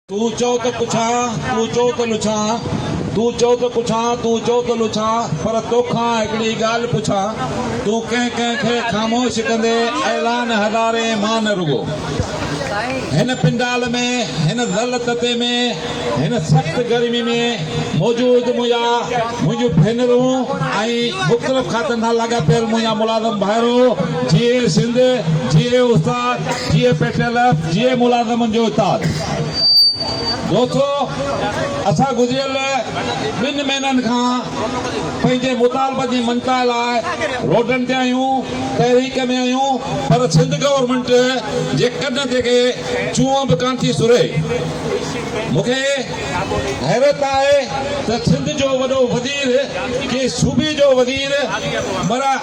تون چئو ته پڇان، تون چئو ته نڇان، تون چئو ته پڇان، تون چئو ته نڇان، پر توکان هڪڙي ڳالهه پڇان، تون ڪنهن ڪنهن کي خاموش ڪندي اعلان هزارين مان نه رڳو هن پنڊال ۾، هن ذل تتي ۾، هن سخت گرمي ۾، موجود منهنجا منهنجون ڀينرون ۽ مختلف کاتن سان لاڳاپيل منهنجا ملازم ڀائرو جيئي سنڌ جيئي استاد جيئي پيٽيلف جيئي ملازمن جو اتاد دوستو اسان گذريل ٻن مهينن کان پنهنجي مطالبن جي مڃتا لاء روڊن تي آهيون تحريڪ ۾ آهيون پر سنڌ گورنمينٽ جي ڪن تي ڪي چونء به ڪانه ٿي سرهي مونکي حيرت آهي ته سنڌ جو وڏو وزير ڪنهن صوبي جو وزير معنيٰ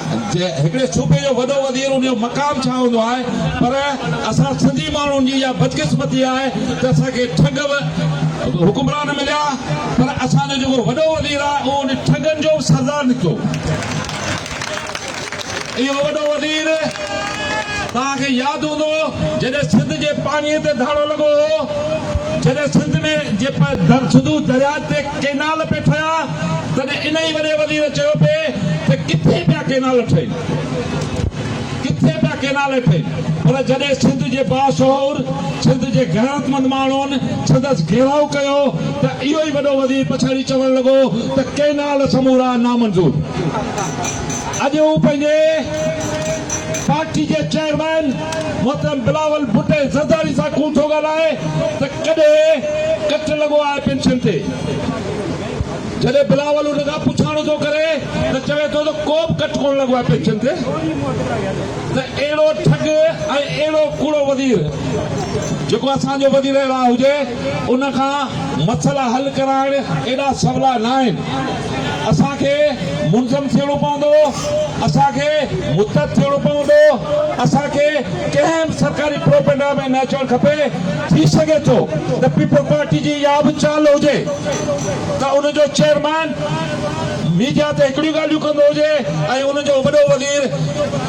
هڪڙي صوبي جو وڏو وزير ان جو مقام ڇا هوندو آهي پر اسان سنڌي ماڻهن جي اها بدقسمتي آهي ته اسان کي ٺڳ حڪمران مليا پر اسان جو جيڪو وڏو وزير آهي اهو ان ٺڳن جو به سردار نڪتو. اهو وڏو وزير توهان کي ياد هوندو جڏهن سنڌ جي پاڻي تي ڌاڙو لڳو هو جڏهن سنڌ ۾ جي سنڌو درياء تي ڪينال پي ٺهيا تڏهن ان ئي وڏي وزير چيو پي ته ڪٿي پيا ڪينال ٺهين ڪٿي پيا ڪينال ٺهين پر جڏهن سنڌ جي باشعور سنڌ جي غيرتمند ماڻهن سندس گهيراء ڪيو ته اهو ئي وڏو وزير پڇاڙي چوڻ لڳو ته ڪينال سمورا نامنظور اڄ هو پنهنجي پارٽي جي چيئرمين محترم بلاول ڀٽي زرداري سان ڪون ٿو ڳالهائي ته ڪڏهن ڪٽ لڳو آهي پينشن تي. جڏهن بلاول ان کان پڇاڻو ٿو ڪري ته چوي ٿو ته ڪو به ڪٽ ڪونه لڳو آهي پينشن تي ته اهڙو ٺڳ ۽ اهڙو ڪوڙو وزير جيڪو اسان جو وزيراعليٰ هجي ان کان مسئلا حل ڪرائڻ ايڏا سولا ناهن. اسان کي منظم ٿيڻو پوندو، اسان کي متحد ٿيڻو پوندو، اسان کي ڪنهن به سرڪاري پروپينڊا ۾ نه اچڻ کپي، ٿي سگهي ٿو ته پيپلز پارٽي جي اها به چال هجي ته ان جو چيئرمين ميڊيا تي هڪڙيون ڳالهيون ڪندو هجي ۽ ان جو وڏو وزير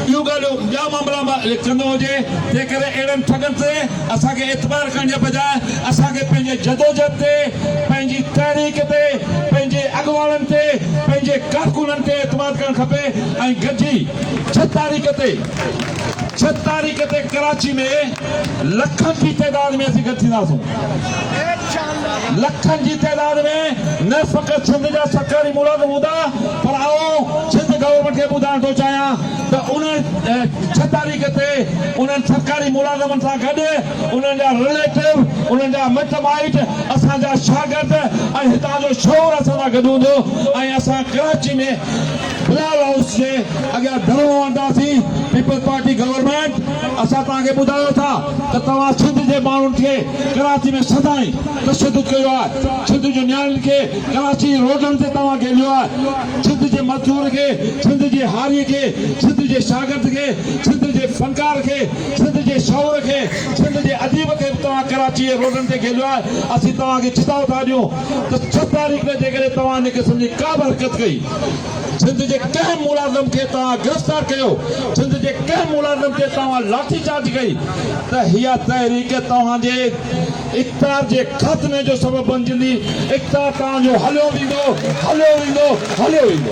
ٻيون ڳالهيون ٻيا معاملا ڪندو هجي، تنهنڪري اهڙن ٺڳن تي. اسان کي اعتبار ڪرڻ جي بجاء اسان کي پنهنجي جدوجهد تي، پنهنجي تحريڪ تي، پنهنجي اڳواڻن تي، پنهنجي ڪارڪنن تي اعتماد ڪرڻ کپي ۽ گڏجي ڇهه تاريخ تي ڇهه تاريخ تي ڪراچي ۾ لکن جي تعداد ۾ اسين گڏ ٿينداسون. لکن جي تعداد ۾ نه فقط سنڌ جا سرڪاري ملازم هوندا پر آئون سنڌ گورنمينٽ کي ٻڌائڻ ٿو چاهيان ته ان ڇهه تاريخ تي انهن سرڪاري ملازمن سان گڏ انهن جا رليٽو، انهن جا مٽ مائٽ، اسان جا شاگرد ۽ هتان جو شعور اسان سان گڏ هوندو ۽ اسان ڪراچي ۾ بلال هائوس جي اڳيان ڌرڻو هڻنداسين، پيپلز پارٽي گورنمينٽ اسان توهان کي ٻڌايو ٿا ته توهان سنڌ جي ماڻهن کي ڪراچي ۾ سدائين تشدد ڪيو آهي، سنڌ جي نياڻين کي ڪراچي جي روڊن تي توهان گهيليو آهي. سنڌ جي مزدور کي، سنڌ جي هاري کي، سنڌ جي شاگرد کي، سنڌ جي فنڪار کي، سنڌ جي شعور کي، سنڌ جي اديب کي به توهان ڪراچيء جي روڊن تي گهيليو آهي، اسين توهان کي چتاء ٿا ڏيون ته ڇهه تاريخ ۾ جيڪڏهن توهان ان قسم جي ڪا به حرڪت ڪئي، سنڌ جي ڪنهن ملازم کي توهان گرفتار ڪيو، سنڌ جي ڪنهن ملازم تي توهان لاٺي چارج ڪئي ته اها تحريڪ توهان جي. اقتدار جي خاتمي جو سبب بنجندي، اقتدار توهان جو هليو ويندو، هليو ويندو، هليو ويندو.